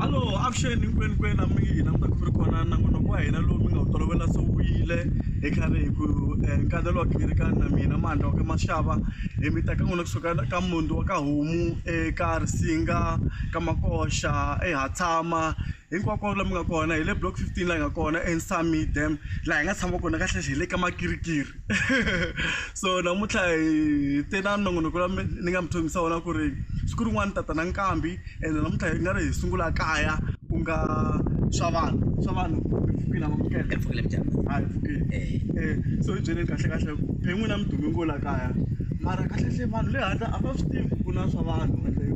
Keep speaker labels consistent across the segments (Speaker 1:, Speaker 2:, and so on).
Speaker 1: alo avuxeni hinkwenu kwenu a mi yi hina mi ta ku ri kona nangonoko wa hina lowu mi nga wu tolovela se wu yile hi khale hi ku eh, nkandelo wa khiri ka na mina mandla wa ka maxava hi mi teka n'wina kusuka la- ka mundi wa ka homu eka risinga ka makoxa ehatshama hinkwako la mi nga kona hi le block 15 laha hi nga kona ensami dam laha hi nga tshama kona kahlekahle hi le ka makirikiri so namuntlha hi te na nongonoko la ni nga mi tshembisa wona ku ri siku rin'wana tata na nkambi ende namuntlha hi nga ri hi sungula kaya ku nga swa vanhu swa vanhu mpfukile amukela mpfukile mjani ha
Speaker 2: mpfukile eh. eh
Speaker 1: so hi byeleni kahle kahle ku phe n'wina mi dume ngo la kaya mara kahle hle vanhu le handle a va swi tivi ku na swa vanhu ende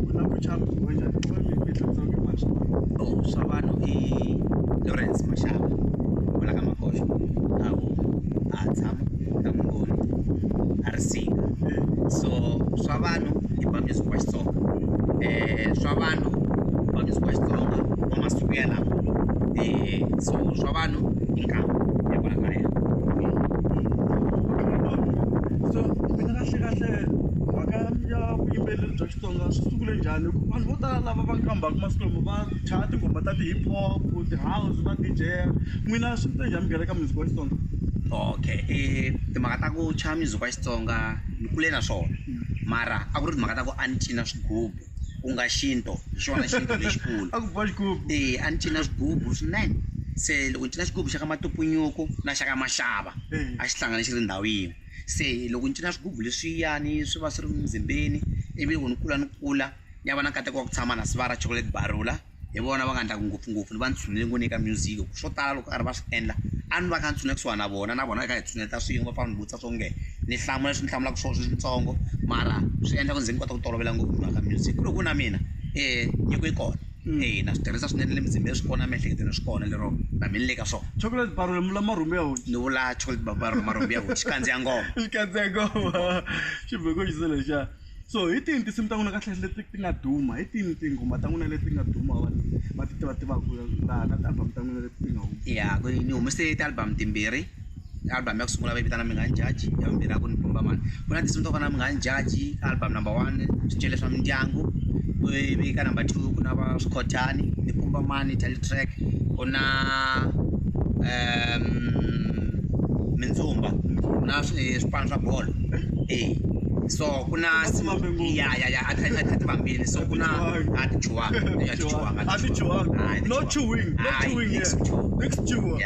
Speaker 1: ku na ku chamba ku njhani ku mi mi tlhela ku ma swa vanhu oh swa vanhu
Speaker 2: i Lawrence Mashaba wala ka makosho a ha tshama na n'wi voni a ri single so swa vanhu i ba music wa Xitsonga swa vanhu ku ba music wa Xitsonga wa masiku yalawo so swa vanhu i nkama ya kwala kaya. So mina
Speaker 1: kahlekahle mhaka ya vuyimbeleri bya. Switsonga swi sungule njhani hi ku vanhu vo tala lava va kambaka masiku lama va chaya tinghoma ta ti-hip hop ti-house va D_J n'wina swi te njhani mugerhe ka music wa Xitsonga okay
Speaker 2: i timhaka ta ku chaya music wa Xitsonga ni kule na swona mara a ku ri timhaka ta ku a ni cina swigubu ku nga xintu hi xona xintu lexikulu a ku biwa xigubu e
Speaker 1: a ni cina swigubu
Speaker 2: swinene se loko ni cina xigubu xa ka matupunyuku na xa ka maxava a xi hlangane xi ri ndhawu yin'we Se loko ni cina swigubu leswiyani swi va swi ri mizimbeni ivi loko ni kula ni kula ni ya va na nkateko wa ku tshama na Sibaya ra Chocolate Barula hi vona va nga endlaka ngopfungopfu ni va ni tshunele ngopfu ni le ka music hi ku swo tala loko karhi va swi endla a ni va kha ni tshunela kusuhana na vona na vona hi kha hi tshuneta swin'we va pfa va ni vutisa swo nge ni hlamula leswi ni hlamulaka swona switsongo mara swi endla ku ni ze ni kota ku tolovela ngopfu mhaka music ku ri ku na mina nyiko yi kona. na swi tirhisa swinene le mzimbeni swi kona emiehleketweni swi kona lero va mi ni le ka swona chocolate bar lomu la
Speaker 1: marhumbi ya hoxa ni vula chocolate babar
Speaker 2: marhumbi ya hoxa kandziya ngoma xikandzeko xivheko
Speaker 1: xise lexa so hi tini tinsimu ta n'wina kahle leti ti nga duma hi tini tinghoma ta n'wina leti nga duma vanhu va ti tiva tivaka laha na ti-album ta n'wina leti ti nga huma ya ku ni humese
Speaker 2: ti-album timbirhi album yakusungula vaivitana mi nga njaji ya vumbirhi a ku ni bomba mani ku na tinsimu to fana mi nga njaji album number one swicele swa mindyangu ivi ka number two ku na va swikhotani ni bomba mani title track ku na um mindzumba na swipano swa bolo e so ku na ya ya ya ativambili so ku na a tichuwanga a tichuwanga
Speaker 1: no chewing no chewing yeah.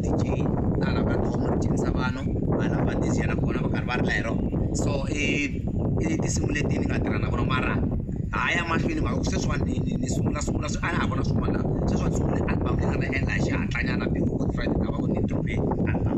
Speaker 2: D_J hala va ndhawu mi ri dyondzisa vanhu hala va D_J na kona va karhi va rila hi rona so i i tinsimu leti ni nga tirha na vona mara ha ya mahlweni hi mhaka ku sweswiwani ni ni ni sungula sungula a na ha ri na swin'wana laha sweswi a ni sungule album leyi nga ta endla hi xihatlanyana before good friday ni lava ku ni drop-e
Speaker 1: album.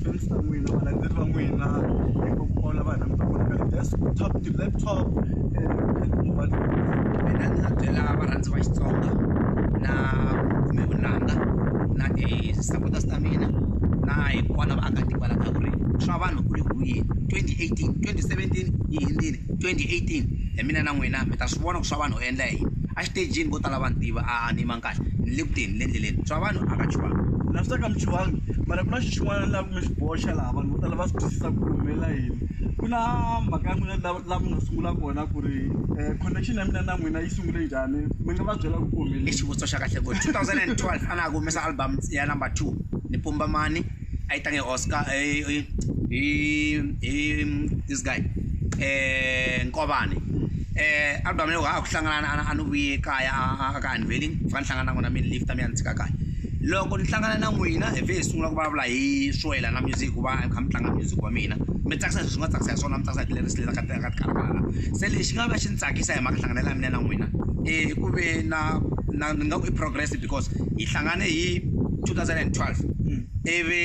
Speaker 2: friends va n'wina valandzeleri va n'wina hinkwavo lava hi langutaka vona ka ti-desktop ti-laptop mina ni nga byela varhandzi va Xitsonga na kumbe vunanga na ti-supporters ta mina na hinkwavo lava vaakatiko va lavaka ku ri swa vanhu ku le ku yini twenty eighteen twenty seventeen yi hundzile twenty eighteen hi mina na n'wina mi ta swi vona ku swa vanhu u endla yini exitejini vo tala va ni tiva a ni yimanga. ni le ku teni ni le endleleni swa vanhu a va chuhangi na swi ta ka mi chuhangi
Speaker 1: mara ku na xi xin'wana laha ku nga xi boxa laha vanhu vo tala va swi twisisa ku humelela yini ku na mhaka ya n'wina la mi nga sungula kona ku ri um connection ya mina na n'wina yi sungule njhani mi nga va byela ku ku humelele xivutiso xa kahle ku two
Speaker 2: thousand and twelve a na ha ku humesa album ya number two ni pumba mani. Aí tá o Oscar, e, e, e, this guy, eh, Nkobani. Eh, album leyi a ku hlangana a ni vuye kaya a ka unveiling fika ni hlangana na n'wina mi ni lift mi ya ni tshika kaya loko ni hlangana na n'wina hi vhe hi sungula ku vulavula hi swoyela na music ku va kha mi tlanga music wa mina mi tsakisa leswi nga tsakisa hi swona mi tsakisa hi tilerisi leti ka ka tikarhala se lexi nga va xi ni tsakisa hi mhaka hlanganela ya mina na n'wina i ku ve na na ni nga ku i progress because hi hlangane hi 2012 ivi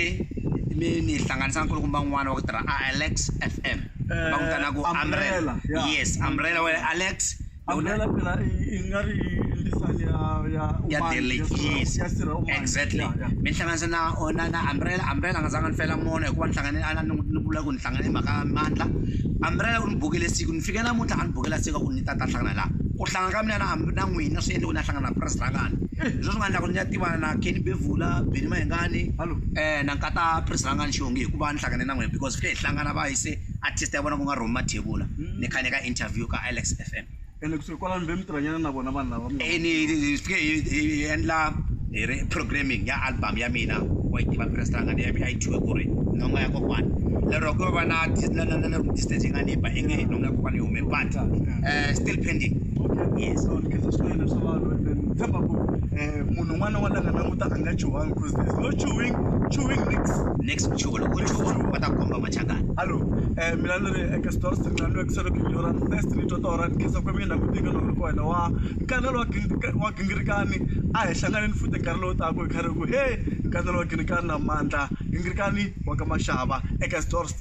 Speaker 2: mi ni hlanganisa nkulukumba n'wana wa ku tirha a alex f m va n'wi tana ku umbrella yes umbrella wa alex
Speaker 1: ya
Speaker 2: delek yes exactly mi hlanganisa na ona na umbrella umbrella a nga zanga ni fela mona hikuva ni hlangane a ni vula ku ni hlangane hi mhaka mandla umbrella u ni bukele siku ni fike namuntlha a ni bukela siku ku ni ta ta hlangana laha ku hlangana ka mina na na n'wina swi endliwa u na hlangana na purasi ra ngani hi swona swi nga endla ku ni ya tivana na Kenny Bevula, Benny Mayengani na nkata purasi ra ngani xihongi hikuva ni hlangane na n'wina because hi hlangana va yise artist ya vona ku nga Romy Mathebula ni kha ni ka interview ka Alex F_M ene kusuhi kwalano
Speaker 1: mi tirhanyana na vona vanhu lava hi fike hi
Speaker 2: endla hi ri programming ya album ya mina wa yi tiva purasi ra ngani a yi thyiwe ku ri nhonga ya kokwana lero ku yo va na na na na distance yi nga ni ba inge nhonga ya kokwana yi hume but. eh, still pending yes so ni khensa swinene
Speaker 1: swa vanhu and then ni tshemba ku eh, munhu un'wana wa langa languta a nga chuhangi because there's no chewing chewing licks next
Speaker 2: chuva loko u chuva va ta komba machangani Hallo, eh,
Speaker 1: mina ni ri eka Stores ni nga lwekisa loko hi yora first ni twa tora ni khensa kwemi na kutinga loko ri kona wa nkanelo wa gingirika- wa gingirikani a hi hlanganeni futhi nkarhi lowu taka hi khari ku he nkanelo wa gingirikani na mandla gingirikani wa ka maxava eka Stores